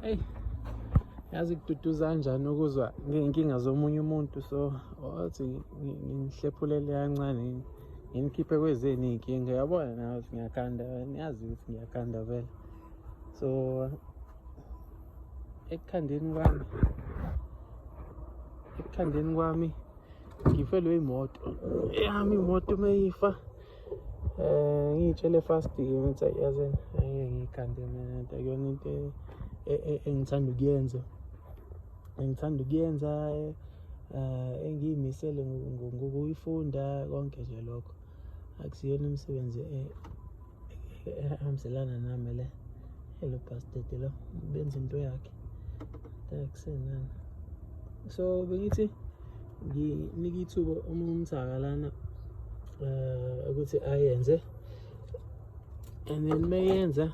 eyi yazi kududuza kanjani ukuzwa ngey'nkinga zomunye umuntu so wathi ngihlephulele kancane nginikhiphe kwezeni iy'nkinga yabona nawe ukuthi ngiyakhanda niyazi ukuthi ngiyakhanda vele so ekukhandeni kwami ekukhandeni kwami ngifelwe imoto yami imoto uma ifa um ngiyitshele fast-ke ngithi yazini angeke ngiyigande mina nto akuyona into e, e, engithanda ukuyenza engithanda ukuyenza um engiyimisele ngokuyifunda konke nje lokho akusiyona imisebenzi e, ehambiselana nami le elo bhastede lo benza into yakhe akusenani so bengithi nginike ithuba uma umthaka lana eh, ukuthi ayenze and then mayenza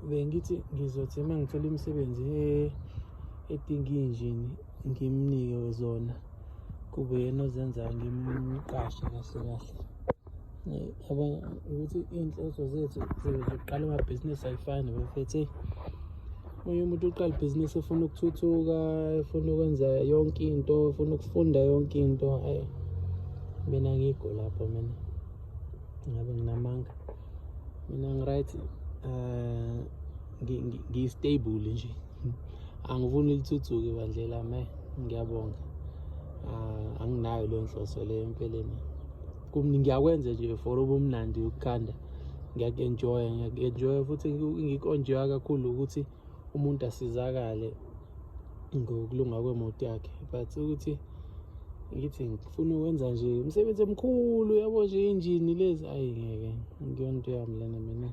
bengithi ngizothi uma ngithola imisebenzi edinga injini ngimnike zona kube yena ozenzayo ngimqashe kahle kahle yabona ukuthi iy'nhloso zethu zokuqala amabhizinisi ayifani bafethi omunye umuntu uqala ibhizinisi efuna ukuthuthuka efuna ukwenza yonke into efuna ukufunda yonke into ayi mina ngikho lapho mina ngabe nginamanga mina ngiright um ngistable nje angifuni lithuthuke bandle lami ngiyabonga ah, anginayo leyo nhloso leyo empeleni kumni ngiyakwenza nje for ubumnandi ukukhanda ngiyaku-enjoya ngiyaku-enjoya futhi ngikonjewa kakhulu ukuthi umuntu asizakale ngokulunga kwemoto yakhe but ukuthi ngithi ngifuna ukwenza nje umsebenzi omkhulu yabo nje injini lezi ayi ngeke ngiyona into yami lena mina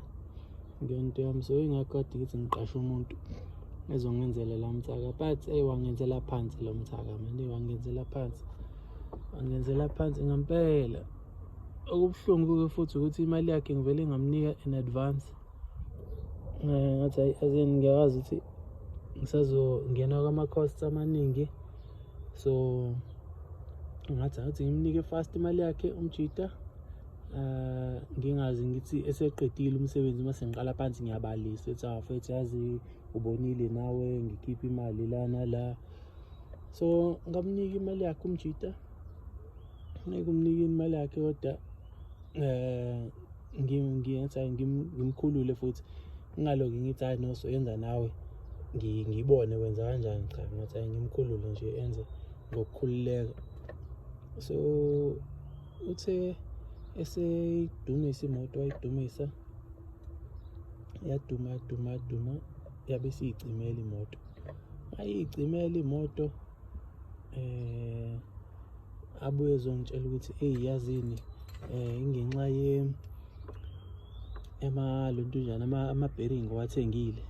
ngento yami so ingakho kade ngithi ngiqashe umuntu ezongenzela la mthaka but eyi wangenzela phansi lo mthaka mani wangenzela phansi wangenzela phansi ngampela okubuhlungu-ke futhi ukuthi imali yakhe ngivele ngamnika in advance eh, ngathi hayi azin ngiyakwazi ukuthi ngisazongena kwama-costs amaningi so ngathi ngathi ngimnike fast imali yakhe umjita eh ngingazi ngithi eseqedile umsebenzi uma sengiqala phansi ngiyabalisa ethi afethu ah, yazi ubonile nawe ngikhipha imali lana la so ngamnika imali yakhe umjita ngeke umnike imali yakhe kodwa eh ngiyenza ngimkhulule futhi ngingaloki ngithi hayi no soyenza nawe ngibone wenza kanjani cha ngathi ngimkhulule nje enze ngokukhululeka so uthe eseyidumisa imoto wayidumisa yaduma yaduma yaduma yabe isiyicimela imoto ayiyicimela imoto eh abuye ezongitshela ukuthi eyi yazini eh ingenxa ye ema lontujana ama bearing wathengile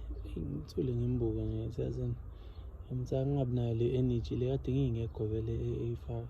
ngithule ngimbuka nje siyazini ngimthatha ngingabi nayo le energy le kade ngingekho vele eyifaka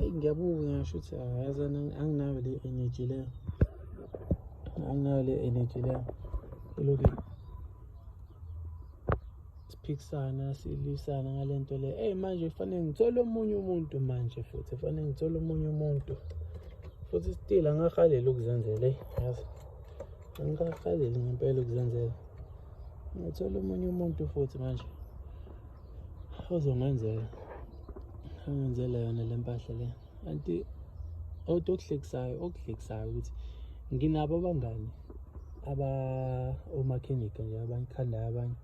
eyi ngiyabuka ngasho ukuthi yazana anginayo le energy leyo anginayo le energy leyo eloke siphikisana silwisana ngale nto le eyi manje kufanele ngithole omunye umuntu manje futhi kufanele ngithole omunye umuntu futhi still angahaleli ukuzenzela eyi yazi angihahaleli ngempela ukuzenzela ngithole omunye umuntu futhi manje ozongenzela angenzela yona le mpahla le anti othi okuhlekisayo okuhlekisayo ukuthi nginabo abangani aba omakhenika nje abangikhandayo abanye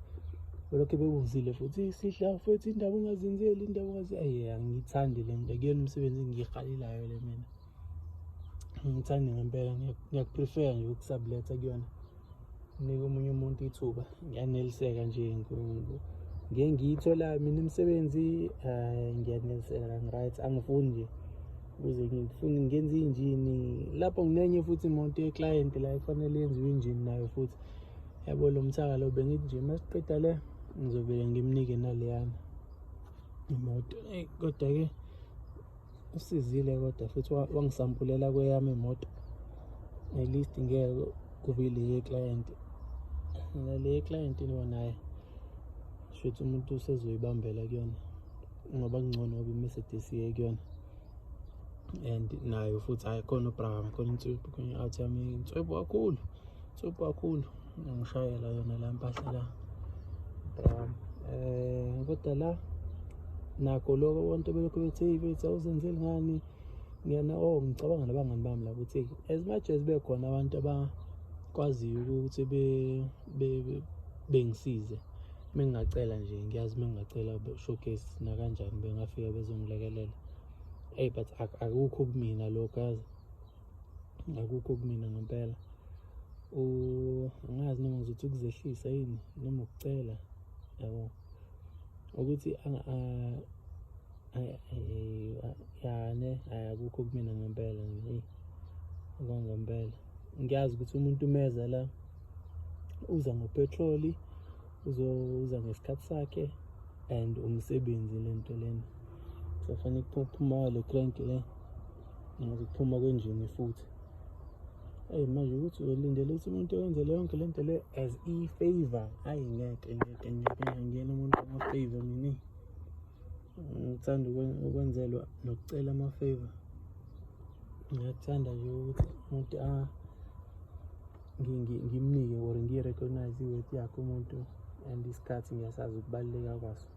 olokhu bekuzile futhi sidla futhi indaba ungazenzeli indaba ungazi ayi angiyithandi le nto kuyona umsebenzi engiyihalelayo le mina ngithanda ngempela ngiyakuprefer nje ukusabuletha kuyona nike omunye umuntu ithuba ngiyaneliseka nje ngeke ngiyithola mina imisebenzi hayi ngiyaneliseka ngi-right angifuni nje ukuze ngifune ngenze injini lapho nginenye futhi imoto yeclient la kufanele yenziwe injini nayo futhi yabo lo mthaka lo bengithi nje uma siqeda le ngizovele ngimnike naleyana imoto kodwa-ke usizile kodwa futhi wangisampulela kweyami imoto at least ngeke kube le client le client lo naye shothi umuntu usezoyibambela kuyona ngoba kungcono ngoba iMercedes iye kuyona and nayo futhi hayi khona ubram khona inswebhu khona i-out yami inswebhu kakhulu inswebhu kakhulu ngishayela yona la mpahla la brown eh kodwa la nakho lokho abantu belokhu bethe bethu awuzenzeli ngani ngiyana oh ngicabanga nabangani bami la ukuthi as much as bekhona abantu abakwaziyo ukuthi be bengisize mengingacela nje ngiyazi mengingacela showcase nakanjani bengafika bezongilekelela hey but akukho kumina lokho yazi akukho kumina ngempela angazi noma ngizothi ukuzehlisa yini noma ukucela yabo ukuthi yane ayakukho kumina ngempela nje kwangempela ngiyazi ukuthi umuntu umeza la uza ngopetroli uzoza ngesikhathi sakhe and umsebenzi lento lena sofanele kuphuma le crank le Ngazi ukuphuma kwenjini futhi. Hey manje ukuthi uyolindela ukuthi umuntu yenze leyo nto lento le as e favor. Hayi ngeke ngeke ngeke ngiyena umuntu ama favor mina. Ngithanda ukwenzelwa nokucela ama favor. Ngiyathanda nje ukuthi umuntu a ah, ngimnike or ngiyirecognize iworth yakhe umuntu and isikhathi ngiyasazi ukubaluleka kwaso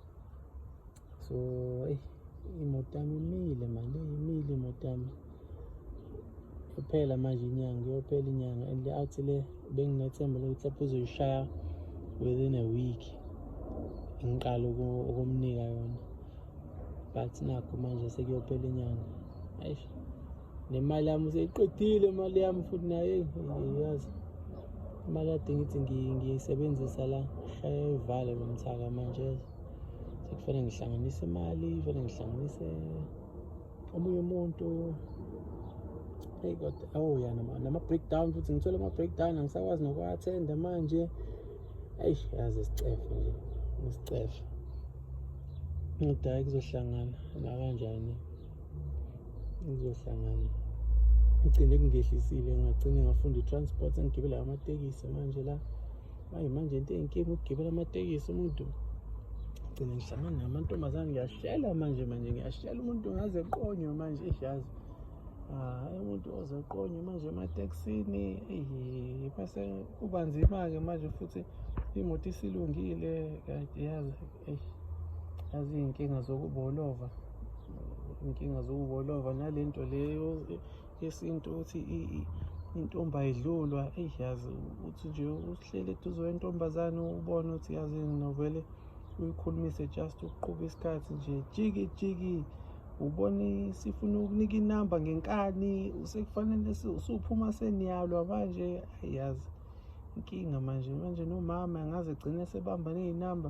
so eyi imoto yami imile manje imile imoto yami kuphela manje inyanga kuyophela inyanga and le out le benginethemba lokuthi lapho uzoyishaya within a week ngiqala ukumnika yona but nakho manje sekuyophela inyanga ayi nemali yami useyiqedile imali yami futhi naye yazi imali kade ngithi ngiyisebenzisa la shaya ivale lo mthaka manje sekufanele ngihlanganise imali kufanele ngihlanganise omunye umuntu eyi kodwa awu oh, ya nama-breakdown futhi ngithole ama-breakdown angisakwazi nokuwa-athenda manje eyi yazi isicefe nje ngisicefe kodwa hhayi kuzohlangana nakanjani kuzohlangana ngigcine kungehlisile ngagcine ngafunda i-transport engigibela amatekisi manje la manje manje into eyinkinga ukugibela amatekisi umuntu gcina ngihlangana namantombazane ngiyashela manje manje ngiyashela umuntu ngaze qonywe manje ijazi ah umuntu oze qonywe manje ematekisini eyi bese kuba nzima-ke manje futhi imoto isilungile yazi eyi yazi iy'nkinga zokubolova iy'nkinga zokubolova nale nto leyo yesintu ukuthi intombi ayidlulwa eyi yazi uthi nje uhleli eduze wentombazane ubone ukuthi yazi novele uyikhulumise just ukuqhuba isikhathi nje jiki jiki ubone sifuna ukunika inamba ngenkani usekufanele usuphuma seniyalwa manje ayi yazi inkinga manje manje nomama angaze gcine sebamba ney'namba